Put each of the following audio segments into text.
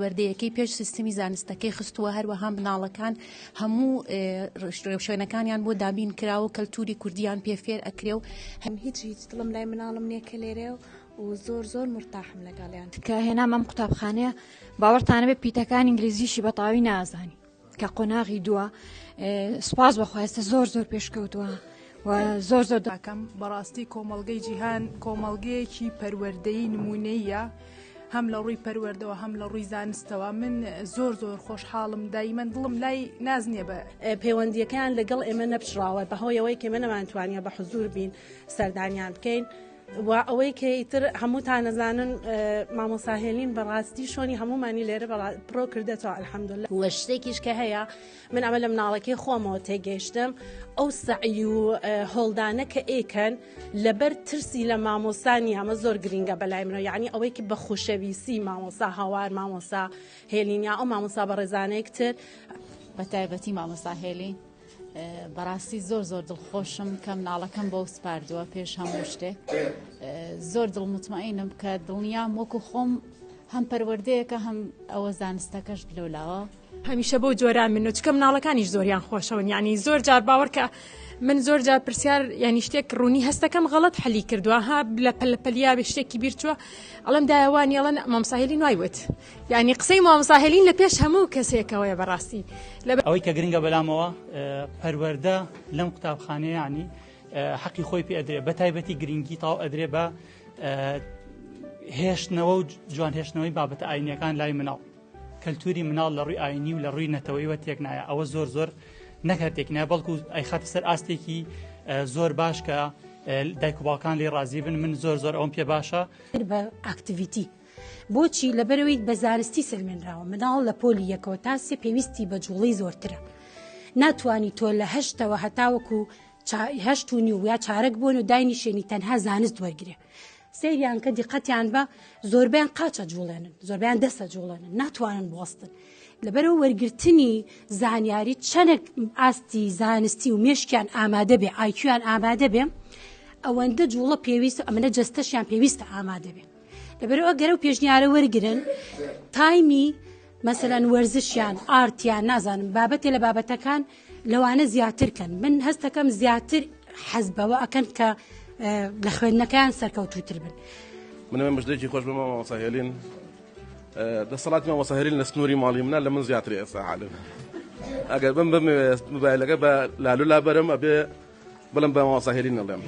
وردەیەکەی پێش سیستمی زانستەکەی خستووە هەروەها مناڵەکان هەموو شوێنەکانیان بۆ دابین کراوە و کەلتوری کوردیان پێ فێر ئەکرێ و هەم هیچ هیچ دڵم لای مناڵم نییە کە لێرێ و و زۆر زۆر مرتاحم لەگەڵیان کە هێنامەم قوتابخانەیە باوەڕتانەبێ پیتەکان ئینگلیزیشی بەتاوی نازانی کە قۆناغی دووە سپاس بەخواستە زۆر زۆر پێشکەوتووە. زۆر زۆر داکەم بەڕاستی کۆمەلگەی جیهان کۆمەلگەیەکی پەروەردەی نمونەیە هەم لە ڕووی پەروەردەوە هەم لە ڕووی زانستەوە من زۆر زۆر خۆشحاڵم دایمەن دڵم لای ناز نییە بە پەیوەندیەکەیان لەگەڵ ئێمە نەپچڕاوە بەهۆیەوەی کێمە نەمانتوانیە بە حزور بین سەردانیان بکەین. وە ئەوەی کە ئیتر هەمووتان نەزانن مامۆسا هێلین بەڕاستی شۆنی هەمومانی لێرە بەڵا پرۆ کردێتەوە الحەمدللە وە شتێکیش کە هەیە من ئەمە لە مناڵەکەی خۆمەوە تێگەیشتم ئەو سعی و هۆڵدانە کە ئێکەن لەبەر ترسی لە مامۆسانی ئەمە زۆر گرینگە بەلای منەوە یعنی ئەوەی کە بە خوشەویسی مامۆسا هاوار مامۆسا هێلینیا ئەو مامۆسا بە ڕێزانێکتر بە تایبەتی مامۆسا هێلین بەڕاستی زۆر زۆر دڵخۆشم کە مناڵەکەم بۆ سپاردووە پێش هەموو شتێک زۆر دڵ متمەئینم کە دڵنیام وەکو خۆم هەم پەروەردەیەەکە هەم ئەوە زانستەکەش لەولاوە هەمیشە بۆ جۆرا من و چکە مناڵەکانیش زۆریان خۆشەوەن ینی زۆر جار باوەڕکە من زۆر جار پرسیار ینی شتێک ڕوونی هەستەکەم غەڵت حەلی کردووە ها لە پەلپەلیا بێ شتێکی بیرچوە ئەڵم داوانیڵەن مامساهلی نوایوت یانی قسەی مامۆستا هێلین لە پێش هەموو کەسێکەوەیە بەڕاستی. ئەوەی کە گرنگە بەلامەوە پەروەردە لەم قوتابخانەیە یانی حەقی خۆی پێ ئەدرێ بە تایبەتی گرنگی تاو ئەدرێ بە هێشتنەوە و جوان هێشتنەوەی بابەتە ئاینەکان لای مناڵ کەلتوری مناڵ لە ڕووی ئاینی و لە ڕووی نەتەوەیوە تێک نایە ئەوە زۆر زۆر نەکردێک نە بەڵکو ئەی خاتە سەر ئاستێکی زۆر باش کە دایک و باوکان لێ ڕازی بن من زۆر زۆر ئەوم پێ باشە بە ئاکتیویتی. بۆچی؟ لەبەرەوەی بە زانستی سەلمێنراوە مناڵ لە پۆلی یەکەوە تا سێ پێویستی بە جوڵی زۆرترە ناتوانانی تۆ لە هەشتەوە هەتاوەکو هەشت و نیو یا چارەک بوون و داینیشێنی تەنها زانست وەرگێ سریان کە دیقەتیان بە زۆربیان قاچە جوڵێنن زۆربیان دەسە جوڵێنن ناتوانن بوەستن لەبەرەوە وەرگرتنی زانیاری چەنێک ئاستی زانستی و مێشکیان ئامادە بێ ئایکیان ئامادە بێ ئەوەندە جوڵە پێویست ئەمەە جستەشیان پێویستە ئامادە بێ لەبەرو ئەگەر ئەو پێشنیارە وەرگن تایمی مەسەەن وەرزشیان ئارتیان نازانم بابەتێ لە بابەتەکان لەوانە زیاتر کەن من هەستەکەم زیاتر حەز بەوە ئەکەن کە لە خوێندنەکەیان سەرکەوتوتر بن منە مژدێکی خۆش بمە مامۆساهێلین دەسەڵاتی مامۆساهێلین لە سنووری ماڵی منە لە من زیاتر ئێستا عالم ئەگەر بم بمەوێت مبایلەکە بە لالو لابەرم ئەبێ بلم بە مامۆستا هێلین ئەڵێم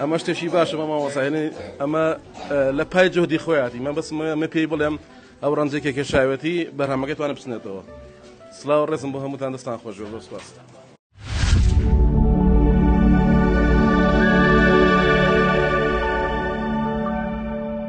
ئەمە شتێکی باشە بە مامۆستا هێلین ئەمە لە پای جهدی خۆیاتی من بەس من پێی بڵێم ئەو ڕەنجێکێک کێشاوێتی بەرهەمەکەی توانە بچنێتەوە سلااو ڕێزم بۆ هەمووتان دەستان خۆش بۆ سپاست.